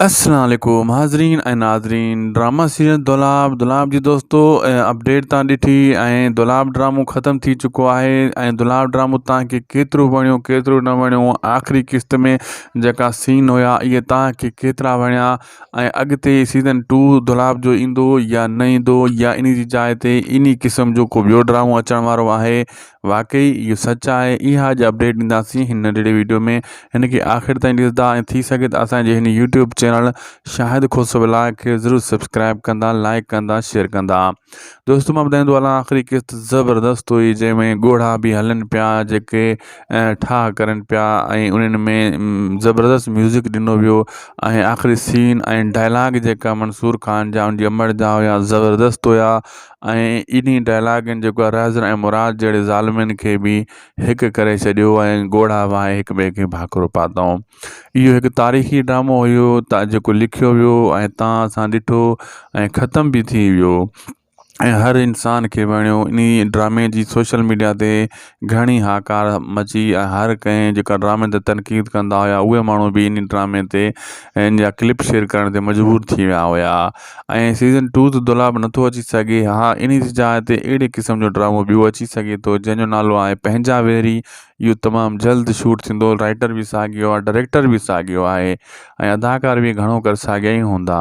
اسلام عليڪم حاضرين ۽ ناظرين ڊرامه سيريل دولاب دولاب جي دوستو اپڊيٽ تان ڏٺي ۽ دولاب ڊرامو ختم ٿي چڪو آهي ۽ دولاب ڊرامو تانکي ڪيترو وڻيو ڪيترو نه وڻيو آخري قسط ۾ جيڪا سين هيا اهي تانکي ڪيترا وڻيا ۽ اڳتي سيزن ٽو دولاب جو ايندو يا نه ايندو يا انهي جي جاء تي انهي قسم جو ڪو ٻيو ڊرامو اچڻ وارو آهي واقعي اهو سچ آهي اها اڄ اپڊيٽ ڏينداسين هن ننڍڙي ويڊيو ۾ هن کي آخر تائين ڏسندا ۽ ٿي سگهي ته اسانجي هن يوٽيوب چينل شاهد خوسو ولاء کي ضرور سبسڪرائب ڪندا لائڪ ڪندا شيئر ڪندا دوستو مان ٻڌائيندو هلان آخري قسط زبردست هئي جنهن ۾ ڳوڙها به هلن پيا جيڪي ٺاهه ڪرن پيا ۽ انهن ۾ زبردست ميوزڪ ڏنو ويو ۽ آخري سين ۽ ڊائلاگ جيڪا منصور خان جا ان جي امڙ جا هيا زبردست هيا ۽ انهي ڊائلاگن جيڪو اراضين ۽ مراد جهڙي ظالمين کي به هڪ ڪري ڇڏيو ۽ ڳوڙها وهائي هڪ ٻئي کي ڀاڪرو پاتائون اهو هڪ تاريخي ڊرامو هيو تان جيڪو لکيو ويو ۽ تان اسان ڏٺو ۽ ختم به ٿي ويو ۽ هر انسان کي وڻيو انهي ڊرامي جي سوشل ميڊيا تي گهڻي هاڪار مچي ۽ هر ڪنهن جيڪا ڊرامي تي تنقيد ڪندا هيا اهي ماڻهو به ان ڊرامي تي ان جا ڪلپ شيئر ڪرڻ تي مجبور ٿي ويا هيا ۽ سيزن ٽو ته دولاب نٿو اچي سگهي ها ان جي جاء تي اهڙي قسم جو ڊرامو ٻيو اچي سگهي ٿو جنهن جو نالو آهي پنهنجا ويري اهو تمام جلد شوٽ ٿيندو رائيٽر به ساڳيو آهي ڊائريڪٽر به ساڳيو آهي ۽ اداڪار به گهڻو ڪر ساڳيا ئي هوندا.